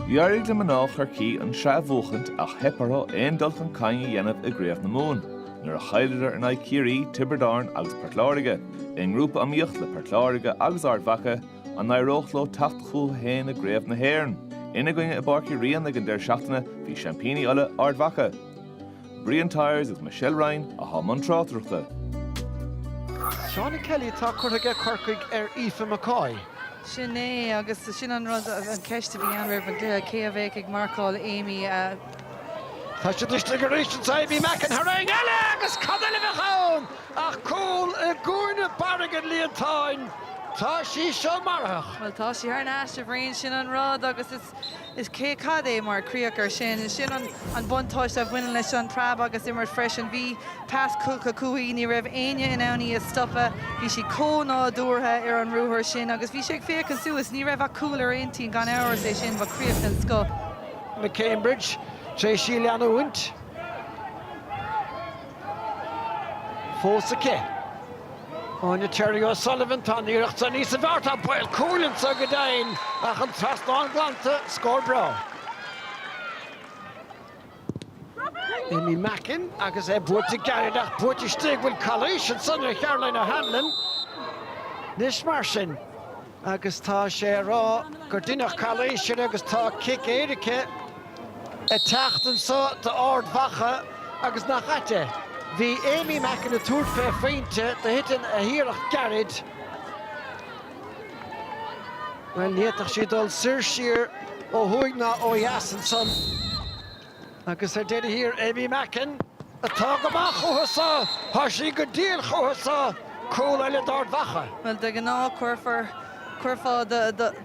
D'éirigh le mná Chorcaí an tsraith a bhuachaint ach theip orthu aon dul chun cinn a dhéanamh i gCraobh na Mumhan nuair a chailleadar in aghaidh Chiarraí, Tiobraid Árann agus Port Láirge, i ngrúpa iomaíoch le Port Láirge agus Ard Mhaca, an n-éireodh leo teacht chucu féin i gCraobh na hÉireann? Ina gcoinne i bPáirc Uí Rinn ag an deireadh seachtaine bhí seaimpíní Uladh, Ard Mhaca. Brian Tyers agus Michelle Ryan atá i mbun tráchtaireachta. Shauna Kelly atá curtha aige Corcaigh ar Aoife McCoy. Sin é, agus sin an rud, an cheist a bhí ann roimh an gcluiche, cé a bheadh ag marcáil Aimee. Tá sí istigh arís anseo, Aimee Mackin, tarraingt eile agus cad eile a bheadh ann ach cúl i gcúinne barr an líontáin. Tá sí seo marfach. Bhuel, tá sí thar n-ais, a Bhriain, sin an rud, agus is. Is cad é mar chríoch air sin? Sin an buntáiste a bhaineann leis an bpreab agus imir freisin. Bhí pas curtha chuici, ní raibh éinne in ann í a stopadh. Bhí sí chomh nádúrtha ar an ruathar sin agus bhí sí ag féachaint suas. Ní raibh ach cúl ar a hintinn, gan amhras, ansin ba chríoch den scoth. McCambridge tar éis í a leanúint. fós aici. Áine Terry O'Sullivan, tá an iarracht san níos fearr, tá baol cúil anseo go deimhin ach an trasnán glanta, scór breá. Aimee Mackin agus é buailte gairid ach buailte istigh, bhuel calaois ansan ar Caroline O'Hanlon anois mar sin. agus tá sé á rá gur deineadh calaois uirthi agus tá cic éirice ag teacht anso d'Ard Mhacha agus nach ait é. Bhí Aimee Mackin ag tabhairt fé phointe do thiteann a hiarracht gairid. Bhuel, ní fhéadfadh sí dul soir siar ó thuaidh ná ó dheas ansan. Agus ar deireadh thiar, Aimee Mackin, atá go maith chucu san, tá sí go diail chucu san, cúl eile d'Ard Mhacha. Bhuel, de ghnáth, cuirfear, chuirfeá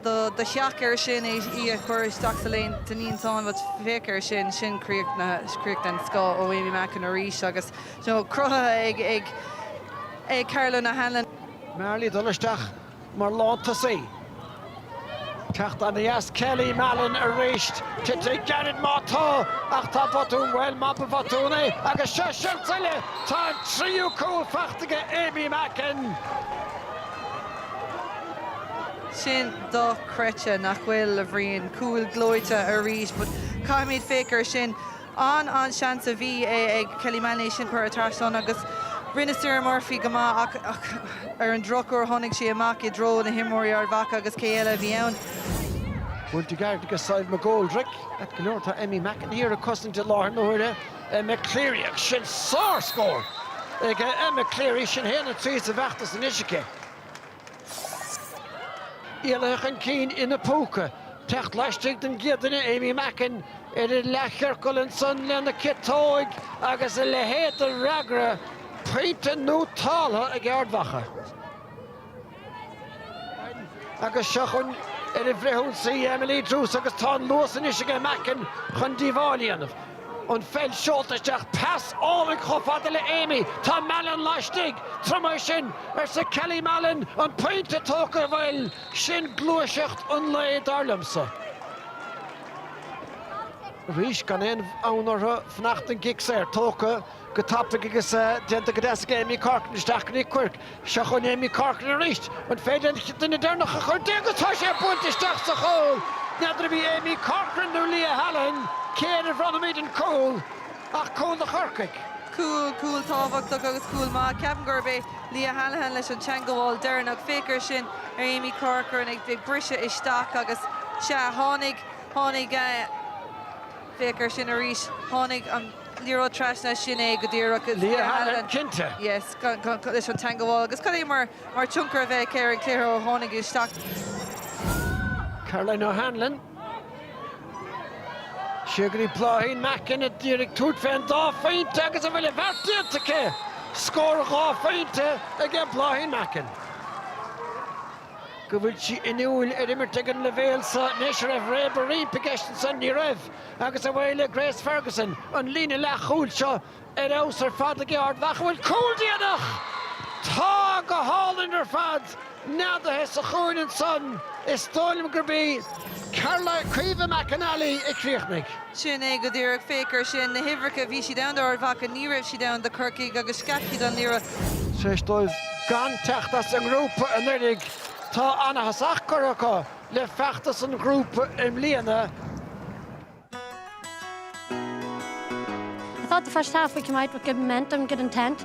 do theach air sin, í a chur isteach sa líontán, den líontán, bhuel, féach air sin, sin críoch, críoch den scoth ó Aimee Mackin arís agus, you know, cruthaithe ag Caroline O'Hanlon. Marley dul isteach mar lántosaí. Teacht aneas Kelly Mallon arís. Titfidh gairid má tá ach tá botún bhuel má ba bhotún é agus seo 'san tuilleadh tá an tríú cúl fachta aige Aimee Mackin. Sin dochreidte nach bhfuil a Bhriain cúil gleoite arís but caithfimid féachaint air sin. An an seans a bhí ag Kelly Mallon é sin a chur thar trasnán agus rinne Sarah Murphy go maith ach ar an drochuair tháinig sé amach i dtreo na n-imreoirí Ard Mhacha agus cé eile a bhí ann? Buailte gairid aige Sadhbh McGoldrick. Ait go leor tá Aimee Mackin thiar ag cosaint i láthair na huaire Emma Cleary ach sin sár-scór ag Emma Cleary, sin 1-3 sa bhfeachtas anois aici. éalaithe chun cinn ina púca, teacht laistigh den gcéad duine Aimee Mackin ar an leathchiorcal ansan lena ciotóig agus a leithéid de fhreagra, pointe nótáltha ag Ard Mhacha. Agus seo chugainn ar an bhfrithionsaí Emily Druse agus tá an luas anois aige Mackin chun díobháil a dhéanamh. an pheil seolta isteach pas álainn chomh fada le Aimee, tá Mallon laistigh, tabhair dom é sin, arsa Kelly Mallon, an pointe tógtha bhuel, sin gluaiseacht an lae dar liomsa. arís gan aon fhonn orthu fanacht don gcic saor, tógtha. go tapaidh agus déanta go deas ag Aimee Corcoran isteach go dtí Quirke. Seo chugainn Aimee Corcoran arís. An féidir an duine deireanach a chur di agus tá sé bainte isteach sa chúl! N'fheadar arbh í Aimee Corcoran nó Leah Hallihan cé air a bhronnaimid an cúl ach cúl do Chorcaigh. Cúl, cúl tábhachtach agus cúl maith. Ceapaim gurb é Leah Hallihan leis an teangabháil deireanach. Féach air sin ar Aimee Corcoran ag briseadh isteach agus, sea, tháinig, tháinig. Féach air sin arís. Tháinig an liathróid trasna, sin é go díreach. Leah Hallihan, cinnte. Yes, leis an teangabháil. Agus cad é mar tionchar a bhí aici ar an gcluiche ó tháinig isteach. Caroline O'Hanlon. Seo agaibh í Bláithín Mackin díreach ag tabhairt fén dá phointe agus an bhfuil an bheart déanta aici! Scór dhá phointe aige Bláithín Mackin. go bhfuil sí inniúil ar imirt ag an leibhéal seo anois, an raibh réabadh roimpi i gceist ansan, ní raibh, agus away le Grace Ferguson, an líne leathchúil seo ar fheabhas ar fad ag Ard Mhacha, an bhfuil cúl déanach! Tá go hálainn ar fad neadaithe sa chúinne ansan, is dóigh liom gurb í Caroline, Caoimhe McNally a chríochnaigh. Sin é go díreach. Féach air sin. Na huimhreacha, bhí siad ann d'Ard Mhacha, ní raibh siad ann do Chorcaigh agus scaip siad an liathróid. Tar éis dóibh gan teacht as an ngrúpa anuraidh, tá an-thosach curtha acu le feachtas an ghrúpa i mbliana. I thought the first half we came out with good momentum, good intent.